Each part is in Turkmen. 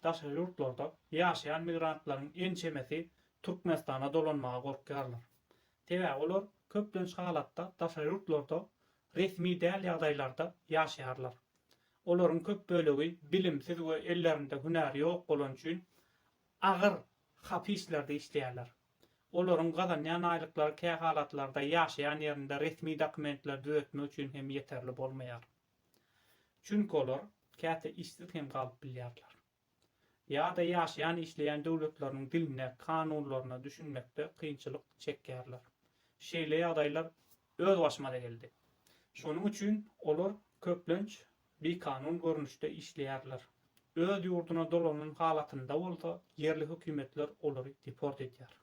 Daşary ýurtlarda ýaşaýan migrantlaryň ençemesi Türkmenistana dolanmaga gorkýarlar. Sebäbi olar köplenç halatda daşary ýurtlarda resmi däl ýagdaýlarda ýaşaýarlar. Olaryň köp bölegi bilimsiz we ellerinde hünär ýok bolany üçin agyr hapislerde işleýärler. Olaryň gazanýan aýlyklary kähalatlarda ýaşaýan ýerinde resmi dokumentleri düzetmek üçin hem ýeterli bolmaýar. Çünki olar käte işsiz hem galyp bilýärler. Ýa-da ýaşaýan-işleýän döwletleriniň diline, kanunlaryna düşünmekde kynçylyk çekýärler. Şeýle ýagdaýlar özbaşyma-da geldi. Şonuň üçin olar köplenç bikanun görnüşde işleýärler. Öz ýurduna dolanan halatynda bolsa ýerli hökümetler olary deport edýär.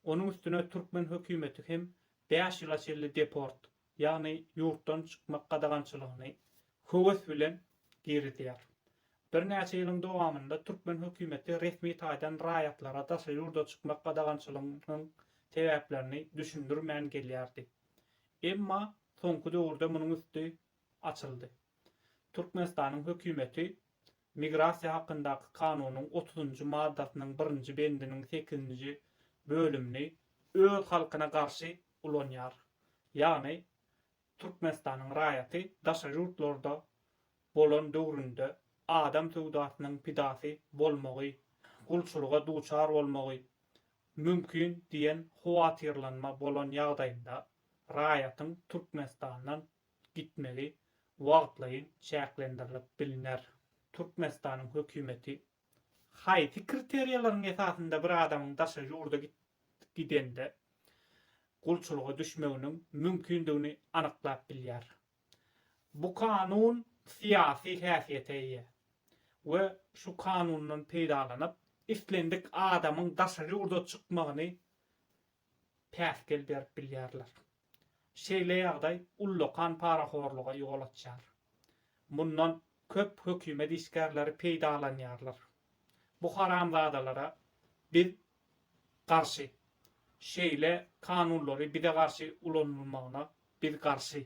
Onuň üstüne türkmen hökümeti hem bäş ýyla çenli deport, ýagny ýurtdan çykmak gadagançylygyny höwes bilen girizýär. Birnäçe ýylyň dowamynda türkmen hökümeti resmi taýdan raýatlara daşary ýurda çykmak gadagançylygynyň sebäplerini düşündirmän gelýärdi. Emma soňky döwürde munuň üsti açyldy. Türkmenistanyň hökümeti Migrasiýa hakyndaky kanunyň otuzynjy maddasynyň birinji bendiniň sekizinji bölümini öz halkyna garşy ulanýar. Ýagny, Türkmenistanyň raýaty daşary ýurtlarda bolan döwründe adam söwdasynyň pidasy bolmagy, gulçulyga duçar bolmagy mümkin diýen howatyrlanma bolan ýagdaýynda raýatyň Türkmenistandan gitmegi wagtlaýyn çäklendirilip bilner. Türkmenistanyň hökümeti haýsy kriteriýalaryň esasynda bir adamyň daşary ýurda gidende gulçulyga düşmeginiň mümkindigini anyklap bilýär? Bu kanun syýasy häsiýete eýe we şu kanundan peýdalanyp, islendik adamyň daşary ýurda çykmagyny päsgel berip bilýärler. Şeýle ýagdaý ullakan parahorluga ýol açýar. Mundan köp hökümet işgärleri peýdalanýarlar. Bu haramzadalara biz garşy. Şeýle kanunlary bize garşy ulanylmagyna biz garşy.